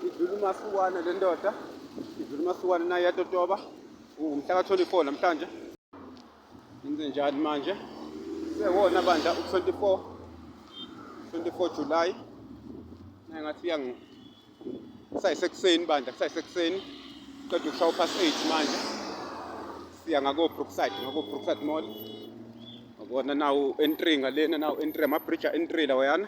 idlula umasukwane le ndoda idlula umasukwane naye yatotoba umhla ka-24 namhlanje yenze njani manje sewona bandla u-24 24 July naye ngathi uyangi kusayisekuseni bandla kusayisekuseni qeda ukushawa past 8 manje siya ngako Brookside ngako Brookside Mall ngabona nawu entry ngalena nawu entry ama bridge entry lawayana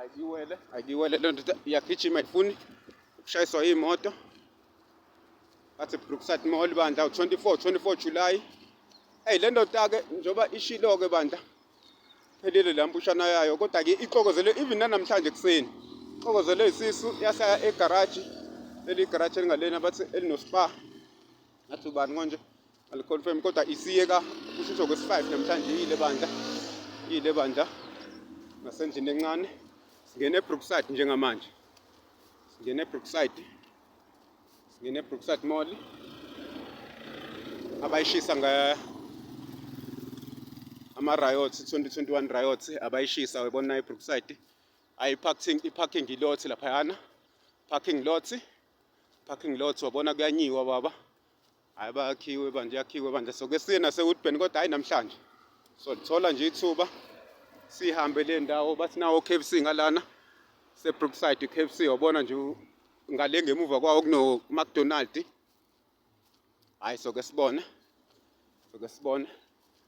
ayiwele ayiwele loo ndoda iyagijima ayifuni ukushayiswa iy'moto bathi brookside mall bandla u-24 24 july eyi le ndoda-ke njengoba ishilo-ke bandla phelile la mpushana yayo kodwa-ke ixokozele even nanamhlanje ekuseni ixokozele isisu yasaya egaraji leli garaji elingalena bathi elinospa ngathi ubani konje aliconfirm kodwa isiyeka kushisho kwesi-5 namhlanje yile bandla yile bandla nasendlini encane singena ebrookside njengamanje singena ebrookside singena ebrookside mall abayishisa nga ama-riots 2021 riots abayishisa webona ebrookside ayi-parking i-parking ilot laphayana parking lot parking lot wabona kuyanyiwa baba Hayi bayakhiwe bandla yakhiwe bandla soke siye nasewoodburn kodwa hayi namhlanje so lithola nje ithuba sihambe le ndawo bathi nawo k f c ngalana sebrookside k f c wabona nje ngale ngemuva kwawo kunomacdonald hhayi soke sibone soke sibone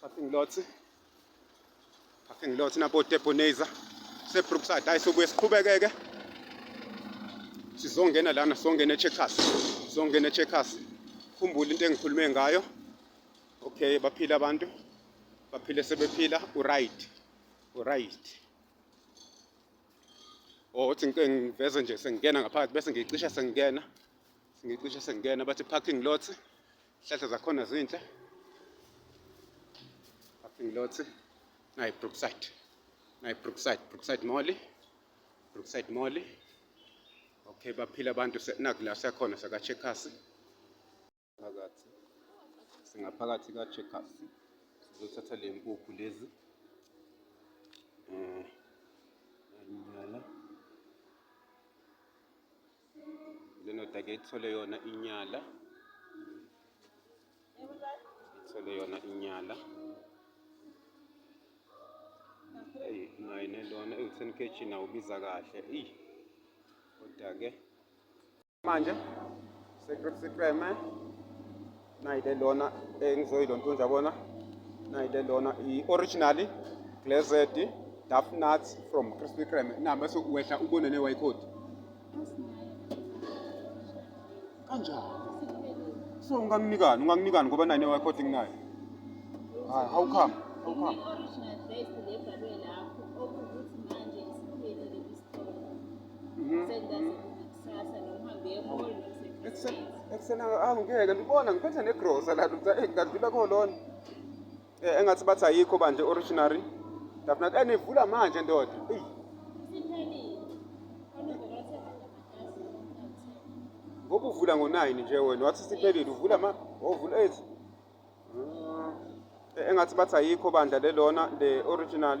Parking lot. Parking lot nabo Deboneza. Se Brookside hayi sobuye siqhubekeke. Sizongena lana songena eCheckers. Songena eCheckers. Khumbula into engikhulume ngayo. Okay baphila abantu. Baphile sebephila u right. U right. Oh, uthi ngike ngiveze nje sengingena ngaphakathi bese ngicisha sengingena. Ngicisha sengingena bathi parking lot. Hlahla zakhona zinhle. Parking lot. Nayi Brookside. Nayi Brookside, Brookside Mall. Brookside Mall. Okay, baphila abantu naku la siyakhona saka Checkers. Phakathi. Singaphakathi ka Checkers. Sizothatha le nkukhu lezi. Eh. Nyala. lendoda ke ithole yona inyala ithole yona inyala eyi naye nelona ewu-ten kg nawo ubiza kahle eyi kodwa-ke manje sekreme nayi le lona engizoyilontunja bona nayi le lona i-originally glazed duff nuts from crispy creme na bese uwehla ubone ne-y code kanjani so unganginikani unganginikani ngoba nayi ne-y code nginayo hayi how come how come i-original best lebhalwe lapho okuwukuthi manje isiphelile isitolo Mhm. Sengaze kube kusasa noma uhambe emall noma Ekuseni- ekuseni angi- angingeke ndibona ngiphethe negrosa la ndoda eyi kanti ibe kolona Eh, engathi bathi ayikho banje originary ndafuna eh nivula manje ndoda eyi Siphelile. Onombolo othe amatasa. ngoba uvula ngo-nine nje wena wathi siphelile uvula ma ovula eight Ah. Eh, engathi bathi ayikho bandla lelona le original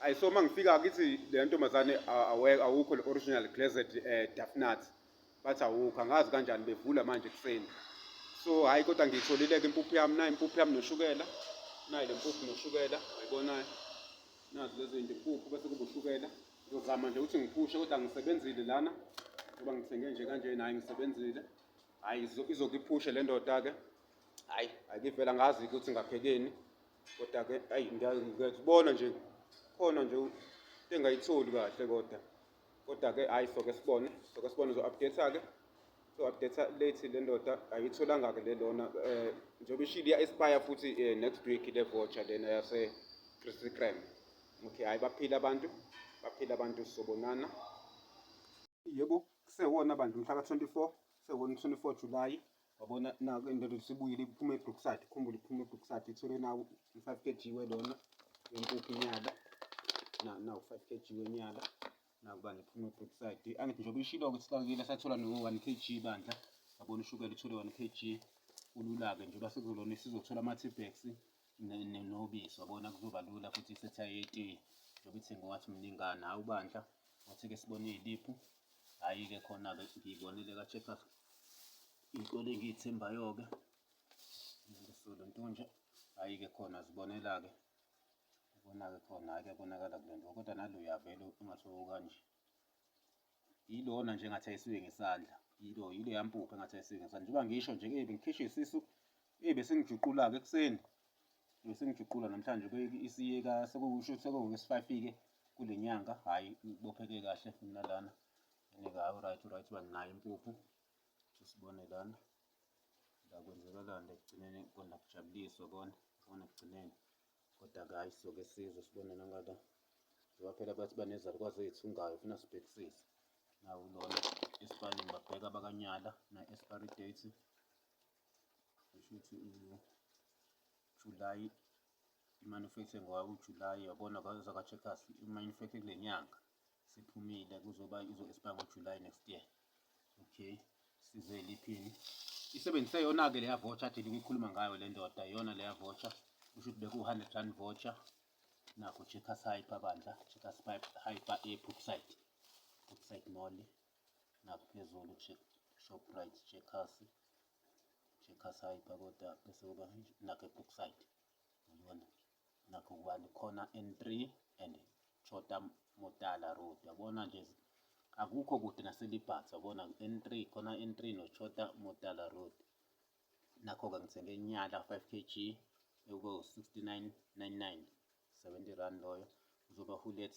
Ayi so mangifika kithi le ntombazane awukho le original glazed eh, dafnat bathi awukho angazi kanjani bevula manje ekuseni so hhayi kodwa ngiyitholileke impuphu yami nayo impuphu yami noshukela nayo le mpuphu noshukela ayibonayo nazi lezi zinto impuphu bese kuba ushukela ngizozama nje ukuthi ngiphushe kodwa ngisebenzile lana ngoba ngithenge nje kanje naye ngisebenzile hhayi izokiphushe le ndoda-ke hhayi ayikivela ngazi ukuthi ngaphekeni kodwa ke ayi ngiyazibona nje khona nje engayitholi kahle kodwa kodwa ke hayi soke sibone soke sibone uzo-update ke so-update late le ndoda ayitholanga ke le lona um eh, njengoba ishile iya-espire futhi um next week le voucher lena yase-christy cram okay hhayi baphile abantu baphile abantu sobonana yebo kusewona bandla umhla ka-24 sewona 24 July wabona naku indoda isibuyile iphuma ebrookside ukhumbule iphuma ebrookside ithole nawo i-five k g welona wempuphu inyala nawu five k g wenyala naku bandla iphuma ebrookside angithi njengoba ishilo ukuthi sakile sathola no-one k g bandla wabona ushukela ithole one k g ulula-ke njengoba sekuzolona isizothola ama-tbags nobisi wabona kuzoba lula futhi isetha yetiye njengoba ithengiwathi mningana hhawu bandla wathi-ke sibone iy'liphu Hhayi-ke khona-ke ngiyibonile ka-Checkers iy'kole engiy'thembayo-ke ngisolo ntonje hhayi-ke khona zibonela-ke ubona-ke khona hhayi kuyabonakala kule nto kodwa nalo uyavele ungathi okanje yilona nje engathi ayisuke ngesandla yilo yile yampupha engathi ayisuke ngesandla njengoba ngisho nje-ke bengikhishwe isisu Eyi besengijuqula-ke ekuseni besengijuqula namhlanje isiyeka sekusho sekuwesifayifike kule nyanga hhayi ibopheke kahle mina lana and-ke hhayi right right uba nginayo impuphu sesibone lana la kwenzekalani ekugcineni kona kujabuliswa kona kona ekugcineni kodwa-ke hhayi soke sizwe sibone nangala njengoba phela bathi banezalukwazi ezithungayo funa sibhekisise nakulona esifaneni babheka bakanyala na-expiry date Shuthi uJulayi i-manufacturing ngowawuJulayi yabona kwayoza kwa-checkers i-manufacturing kule nyanga siphumile kuzoba izo-expire ngoJulayi next year okay size liphini isebenzise yona-ke leya voucher thina kuyikhuluma ngayo le ndoda yona leya voucher kusho ukuthi beku-hundred rand voucher nakho checkers hyper bandla checkers hyper e-popside popside mall ngaphezulu check shoprite checkers checkers hyper kodwa bese kuba nakho brookside uyibona nakho kubani khona n3 and chota motala road yabona nje akukho kude naselibhatha yabona n3 khona n3 nochota motala road nakho-ke ngithenge inyala 5 kg ekubo-69.99 70 rand loyo uzoba hulet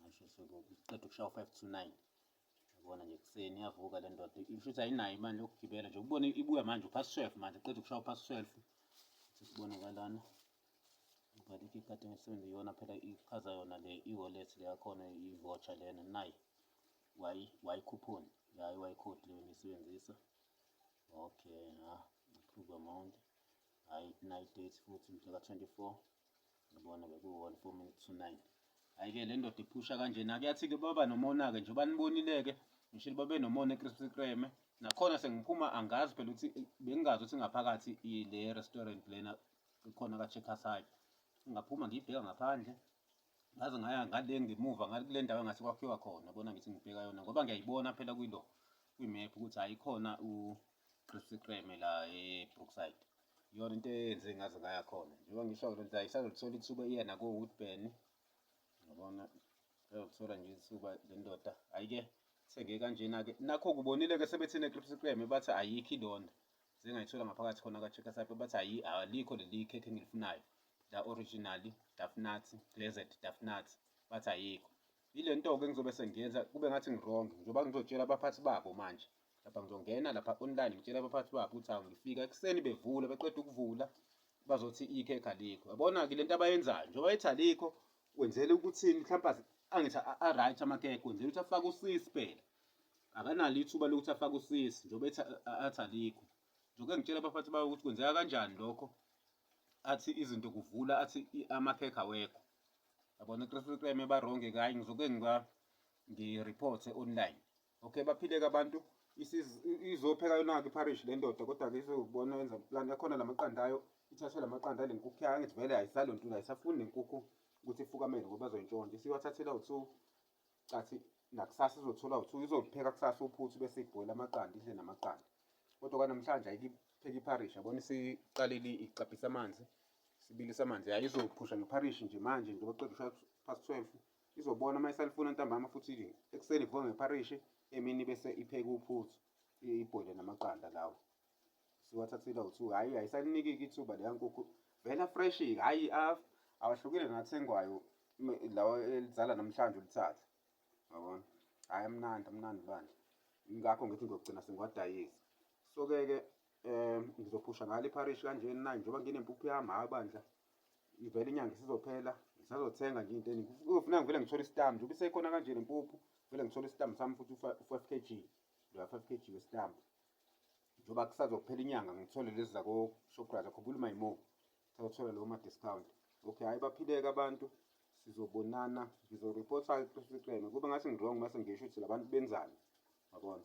ngasho sekuqeda ukushawa u-five to nine yabona nje kuseni yavuka le ndoda isho ukuthi ayinayo imali yokugibela nje ubone ibuya manje uphasi twelve manje qeda ukushawa uphasi twelve sesibonakalana but if ikade ngisebenza iyona phela ichaza yona le i-wallet le yakhona i-voucher lena nayi y coupon yayi y code leyo ngisebenzisa okay ha approve amount hhayi nayi date futhi mhla ka-twenty-four Ngibona ke kuwona 4 minutes to 9. Ayike le ndoda iphusha kanjena kuyathi-ke baba nomona-ke njengoba nibonile-ke ngishilo babe nomona eCrispy Kreme nakhona sengiphuma angazi phela ukuthi bengingazi ukuthi ngaphakathi ile restaurant lena ikhona ka-Checkers High. Ngaphuma ngiyibheka ngaphandle ngaze ngaya ngale ngemuva ngale kule ndawo engathi kwakhiwa khona bona ngithi ngibheka yona ngoba ngiyayibona phela kuyilo kwi-map ukuthi hayi khona Christy Kreme la eBrookside iyona into eyenze ngaze ngaya khona njengoba ngisho lo nto isazolithola ithuba iya nakowoodburn yabona izolithola nje ithuba le ndoda hhayi-ke thenge kanjena-ke nakho kubonile-ke sebethine ecripsy kreme bathi ayikho ilona sengayithola ngaphakathi khona ka-checkers up bathi ayi alikho leli khekhe engilifunayo la originally dafnat glazed dafnat bathi ayikho yile nto-ke ngizobe sengiyenza kube ngathi ngironge njengoba ngizotshela abaphathi babo manje lapha ngizongena lapha online ngitshela abaphathi babo ukuthi awu ngifika ekuseni bevula beqeda ukuvula bazothi ikhekha likho yabona-ke le nto abayenzayo njengoba ethi alikho wenzela ukuthini mhlawumpe angithi a-right amakhekhe wenzela ukuthi afake usisi phela akanalo ithuba lokuthi afake usisi njengoba ethi athi alikho njengoba ngitshela abaphathi bawo ukuthi kwenzeka kanjani lokho athi izinto kuvula athi amakhekhe awekho yabona ikresikreme baronge kayi ngizoke ngiba ngi-reporte online Okay baphileke abantu izopheka yonake iparish le ndoda kodwa-ke izobona yenza plan akhona la maqanda ayo ithathe la maqanda ale nkukhu yayo angithi vele ayisalo ntula ayisafuni nenkukhu ukuthi ifukamele ngoba zoyintshontsha isiwathathela uthu cathi nakusasa izothola uthu izopheka kusasa uphuthu bese ibhoyela amaqanda idle namaqanda kodwa kwanamhlanje ayipheka iparish yabona isiqalile iqabhisa amanzi sibilisa amanzi yayo izophusha ngepharishi nje manje njengoba qeda ushaya past twelve Izobona uma isalifuna ntambama futhi ekuseni ivuke ngepharishi emini bese ipheke uphuthu ibhoyile namaqanda lawo siwathathile awuthu hhayi ayisalinikiki ithuba leya nkukhu vela freshi hhayi awahlukile nathengwayo lawa elizala namhlanje ulithatha yabona hhayi amnandi amnandi bandla ngakho ngithi ngiyogcina sengiwadayisa so-ke ke um ngizophusha ngalo ipharishi kanjeni na njengoba nginempuphu yami hhayi bandla ivele inyanga isizophela ngisazothenga nje into eningi kuzofuna ngivele ngithole isitambu njengoba isekhona kanje nempuphu vele ngithole isitambu sami futhi u-five k g loya five k g wesitambu njengoba kusazophela inyanga ngithole lezi zakoshoprite akhumbula umayimore sazothola lowo ma-discount okay hhayi baphileke abantu sizobonana ngizoripotha eqeqeni kube ngathi ngi-wrong mase ngisho ukuthi labantu benzani yabona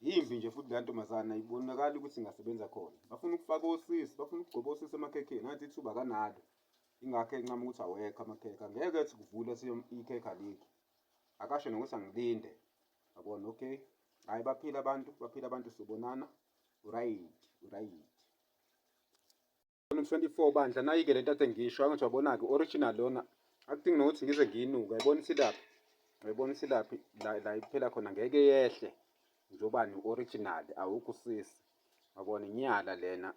Yimbi nje futhi leya ntombazana ibonakala ukuthi ingasebenza khona. Bafuna ukufaka osisi, bafuna ukugcoba osisi emakhekheni, ngathi ithuba kanalo. Ingakho encama ukuthi awekho amakhekhe, angeke ethi kuvule ikhekhe alikho. Akasho nokuthi angilinde, yabona okay. Hhayi baphila abantu, baphila abantu sobonana, urayidi, urayidi. Volume 24 bandla nayike lento athe ngisho angathi wabona-ke original lona akudingi nokuthi ngize ngiyinuka yabona isilaphi yabona isilaphi la la iphela khona ngeke yehle njobani original awukho usisi yabona inyala lena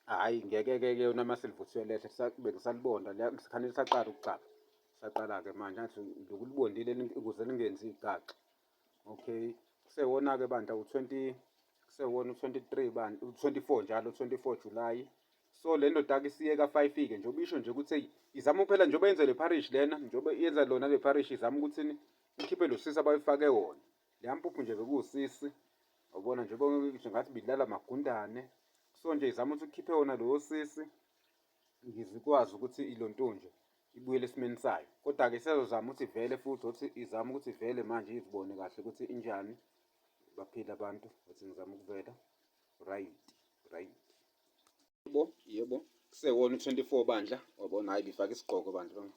hhayi ngeke-ke ke yona uma silivuthiwe lehle bengisalibonda sikhanele saqala ukugcaba saqala-ke manje athi lokulibondile ukuze lingenzi igaxa okay kusewona-ke bandla u-twenty kusewona u-twenty-three bandla u-twenty-four njalo u-twenty-four july so le ndoda-ke isiyeka five-ke nje ubisho nje ukuthi eyi izama ukuphela njengoba yenze le parish lena njengoba yenza lona le parish izama ukuthi ikhiphe lo sisi abayifake wona leya mpuphu nje bekuwusisi wabona njengoba ngathi bidlala magundane so nje izama ukuthi ukhiphe wona lowo sisi ngizikwazi ukuthi ilontunje ibuyele esimeni sayo kodwa-ke isazozama ukuthi ivele futhi othi izama ukuthi ivele manje izibone kahle ukuthi injani baphile abantu ukuthi ngizama ukuvela right right yebo yebo kusewona u-24 bandla wabona hayi ngifake isigqoko bandla bami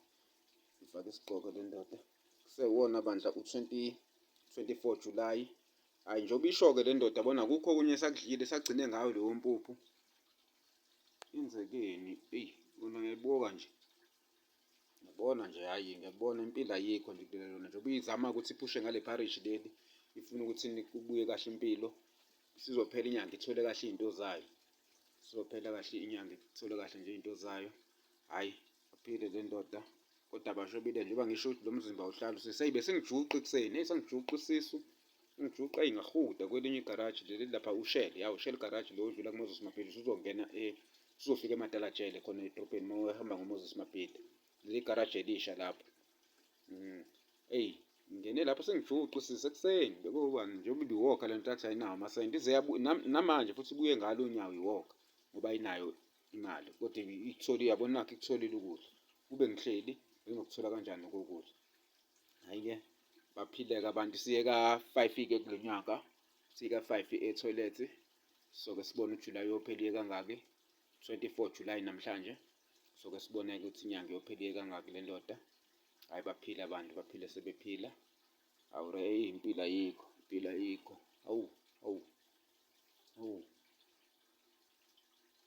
ngifake isigqoko le ndoda kusewona bandla u-24 julayi hhayi njengoba isho-ke le ndoda bona kukho okunye esakudlile sagcine ngayo leyo mpuphu Yenzekeni eyi lona ngiyayibuka nje ngiyabona nje hhayi ngiyakubona impilo ayikho nje impilo lona njengoba uyizama ukuthi iphushe ngale pharishi leli ifuna ukuthi kubuye kahle impilo sizophela inyanga ithole kahle izinto zayo sizophela kahle inyanga ithole kahle nje izinto zayo hhayi Aphile le ndoda kodwa bashobile njengoba ngisho ukuthi lo mzimba uhlala useseyi besengijuqa ekuseni eyi sengijuqa isisu ngijuqa eyi ngahuda kwelinye igaraji leli lapha ushele yawu ushele igaraji lo udlula kumoses mabhili usuzongena e eh, usuzofika ematalajele khona edrobheni uma uhamba ngomoses mabhili leli garaji elisha lapho mm. eyi ngingene lapho sengijuqa isisu ekuseni bekubani njengoba ibiwoka le ntathi ayinawo amasenti ize namanje futhi ibuye ngalo unyawo iwoka ngoba ayinayo imali kodwa ikutholile yabo nakho ikutholile ukudla kube ngihleli benginokuthola kanjani kokudla hhayi-ke baphileke abantu siye ka-five-ke kulo nyaka siye ka-five ethoyilethi soke sibone ujulayi yophela iye kangaki 24 julayi namhlanje soke sibone-ke ukuthi inyanga yophela iye kangaki le ndoda hhayi baphile abantu baphile sebephila awu re eyi impilo ayikho impilo ayikho awu awu awu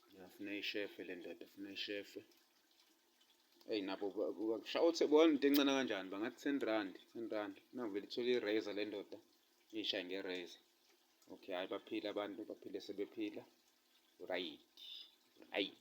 ngiyafuna ishefe le ndoda funa ishefe eyi nabo shawuthi bona into encane kanjani bangathi ten rand ten rand navele ithole i-razor le ndoda ishaye nge-razor okay hhayi baphile abantu baphile sebephila right right